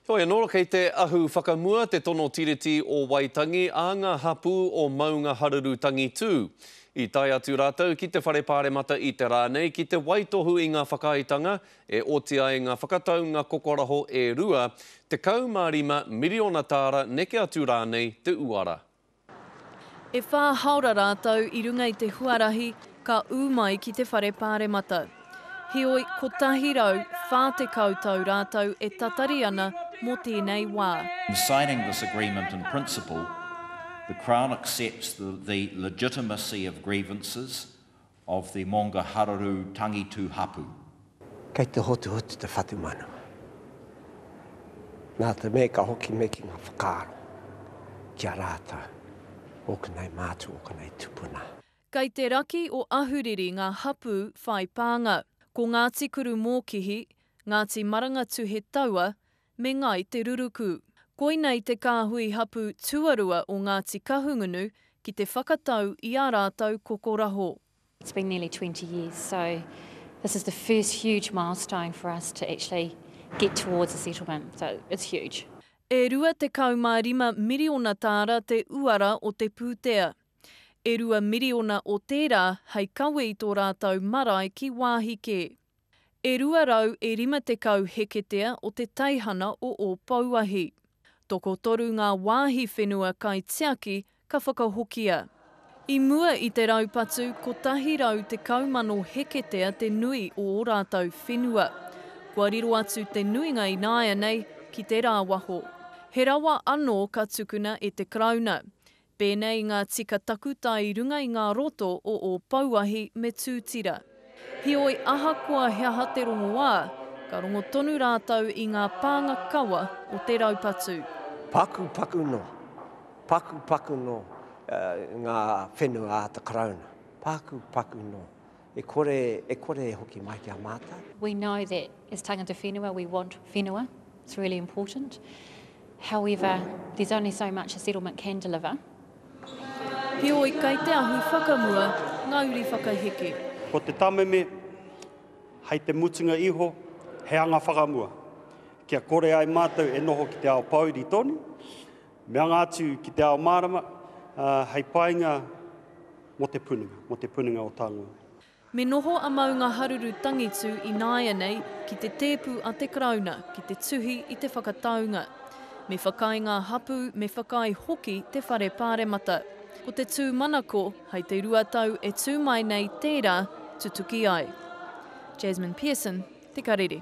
Heoi anō, kei te ahu whakamua te tono Tiriti o Waitangi a ngā hapū o Maungaharuru Tangitū. I tae atu rātou ki te Whare Pāremata i te rā nei ki te waitohu i ngā whakaaetanga e oti ai ngā whakataunga kokoraho e rua, 15 miriona tāra neke atu rānei te uara. E whā haora rātou i runga i te huarahi ka ū mai ki te Whare Pāremata. Heoi, 140 tau rātou e tatari ana mō tēnei wā. In signing this agreement in principle, the Crown accepts the legitimacy of grievances of the Monga Hararu Tangitu Hapu. Kei te hotuhotu te whatumanawa. Nā te mea ka hoki me ki ngā whakaaro ki a rātou, ōku nei mātua, ōku nei tupuna. Kei te raki o Ahuriri ngā hapū whai pānga. Ko Ngāti Kurumōkihi, Ngāti Marangatuhe Taua, me Ngāi Te Ruruku. Koinei te kāhui hapū tuarua o Ngāti Kahungunu ki te whakatau i ā rātou kokoraho. It's been nearly twenty years, so this is the first huge milestone for us to actually get towards a settlement, so it's huge. E rua tekau mā rima miriona tāra te uara o te pūtea. E rua miriona o tērā hei kawe i tō rātou marae ki wāhi kē. E 250 heketea o te teihana o Ōpouahi. Tokotoru ngā wāhi whenua kaitiaki ka whakahokia. I mua i te raupatu 110,000 heketea te nui o ō rātou whenua. Kua riro atu te nuinga ināianei ki te rāwaho. He rawa anō ka tukuna e te Karauna. Pēnei ngā tika takutai i runga i ngā roto o Ōpouahi me Tūtira. Heoi, ahakoa he aha te rongoā, ka rongo tonu rātou i ngā pānga kawa o te raupatu. Pakupaku noa, pakupaku noa ngā whenua a te Karauna, pakupaku noa. E kore, e kore e hoki mai ki a mātou. We know that as tangata whenua we want whenua, it's really important. However, there's only so much a settlement can deliver. Heoi, kei te ahu whakamua ngā uri whakaheke. Ko te tameme, hei te mutunga iho, he anga whakamua. Kia kore ai mātou e noho ki te ao pōuri tonu, Me anga atu ki te ao mārama, ā, hei painga mō te punenga, mō te punenga o Tāngoe. Me noho a Maungaharuru Tangitū ināianei ki te tēpu a te Karauna ki te tuhi i te whakataunga. Me whakaae ngā hapū, me whakaae hoki te Whare Pāremata. Ko te tūmanako, hei te rua tau e tū mai nei tērā tutuki ai. Jasmine Pearson, Te Karere.